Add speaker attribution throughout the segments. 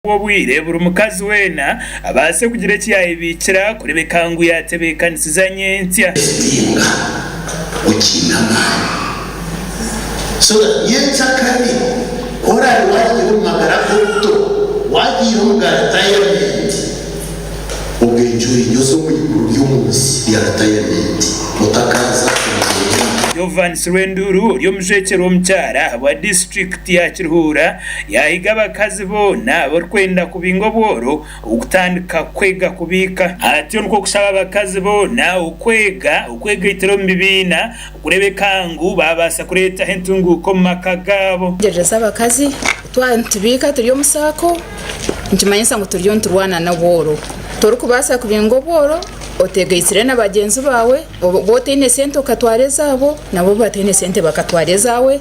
Speaker 1: kuha obwire buri mukazi weena abaase kugira eki yaayebiikira kureebeka ngu yaatebeekanisize anyenkya. Ekitinga okiine
Speaker 2: amaani so that nyenkya kare ku oraabe waahikire omu magara g'obuto, waagiire omu ga ritayamenti, ogende orinyoze omu iguru ry'omu nsi rya ritayamenti otakaaza omu bwire.
Speaker 1: Jovans Rwenduuru ori omujwekyerwa omukyara ahabwa disiturikiti ya Kiruhura Yaahiga abakazi boona abarikwenda kubinga obworo kutandika kwega kubiika. Atyo nikwo kushaba abakazi boona okwega okwegaitira omu bibiina okureebeka ngu baabaasa kureetaho entunguuka omu maka gaabo. Tegyereza abakazi,
Speaker 3: Ku twaba nitubiika turi omu saako nikimanyisa ngu turiyo niturwana n'obworo. Torikubaasa kubinga obworo oteegaitire na bagyenzi baawe. Oba otaine sente okatwara ezaabo, nabo obu bataine sente bakatwara ezaawe.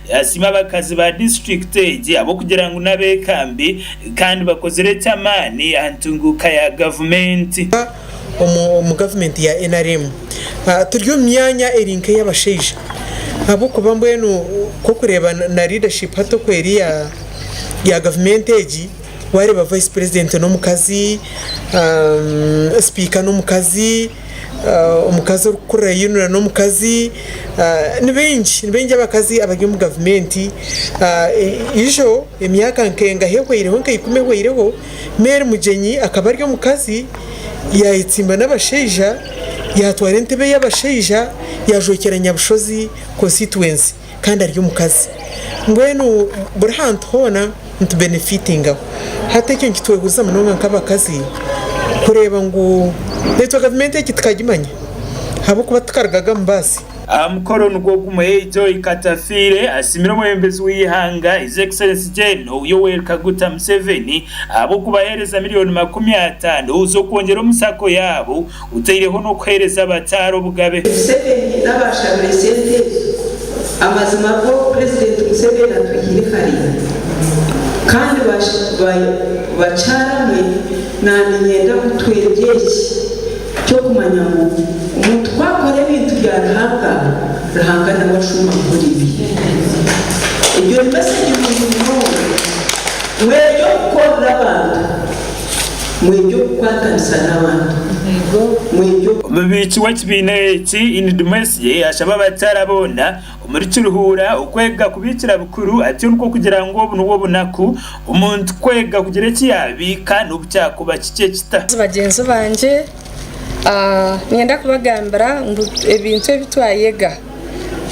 Speaker 1: Yasiima abakazi ba disiturikiti egi ahabw'okugira ngu n'abeekambi kandi bakozire eky'amaani aha ntunguuka ya gavumenti.
Speaker 4: Omu gavumenti ya nrm turi omu myanya eri nk'ey'abashaija ahabw'okuba mbwenu ku orikureeba na leadership hati oku eri ya gavumenti egi, waareeba vice president n'omukazi, sipiika n'omukazi, omukazi orikukurira ayeyonora n'omukazi ni baingi ni baingi abakazi abari omu gavumenti ijo emyaka nkengaha ehweireho nka ikumi ehweireho Mary Mugyenyi akaba ari omukazi yayetsimba n'abashaija yatwara entebe y'abashaija yajwekyera Nyabushozi konsititwensi. kandi ari omukazi mbwenu buri hantu hoona nitubenefitingaho hati ekyo nikitwehuriza munonga nk'abakazi kureeba ngu naitwe gavumenti egi tukagimanya ahabw'okuba tukarugaga omu baasi. Aha mukoro nigwo
Speaker 1: gumwe, Joy Katafiire asiimire omwebembezi w'eihanga His Excellency Gen Yoweri Kaguta Museveni ahabw'okubaheereza miriyoni makumi ataano z'okwongyera omu sacco yaabo, Otaireho n'okuheereza abataara obugabe. Museveni naba
Speaker 5: ashabire sente ezo amazima go president museveni atwihire hare kandi bakyaramwe nanye nyenda mutwegye eki kyokumanya ngu omuntu ku akora ebintu bya ruhanga ruhanga nawe ashuma kukora ebi ebyo ni message nungi munonga mweryo kukorera abantu Mwegye okukwatanisa n'abantu.
Speaker 1: Omubiiki w'ekibiina eki Ini Dumwesigye ashaba abakyara boona omuri Kiruhura okwega kubiikira bukuru ati orwo kugira ngu obu nibwo bunaku omuntu kwega kugira eki yaabiika n'obu kyakuba kikye kita. Bagyenzi bangye
Speaker 6: niinyenda kubagambira ngu ebintu ebi twayega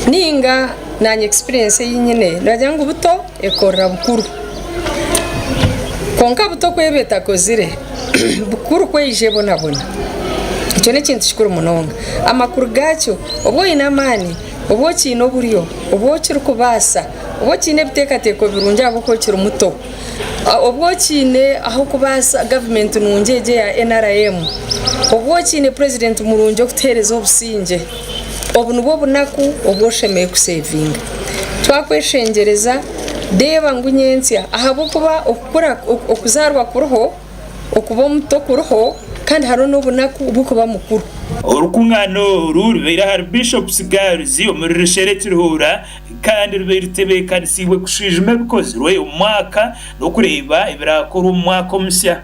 Speaker 6: ninga nanye experience eyinyine nogira ngu buto ekorera bukuru kwonka buto ku eba etakozire bukuru ku eyija ebonabona ekyo n'ekintu kikuru munonga amakuru gakyo obu oyine amaani obu okyine oburyo obu okirikubaasa obu okyine ebiteekateeko birungi ahabw'okuba okiri muto obu okyine ah'okubaasa gavumenti nungi egi eya nrm obu okyine purezidenti murungi okutuheereza obusingye. Obu nibwo bunaku obu oshemereire kuseevinga. Twakweshengyereza, reeba ngu nyentsya. Ahabw'okuba okukura, okuzaarwa kuriho, okuba omuto kuriho, kandi hariho n'obunaku bw'okuba mukuru. Orukungaana
Speaker 1: oru rubaire ahari Bishop's Girls omuri Rishera e Kiruhura kandi rubaire rutebeekanisiibwe kushwijuma ebikozirwe omu mwaka n'okureeba ebiraakorwa omu mwaka omusya.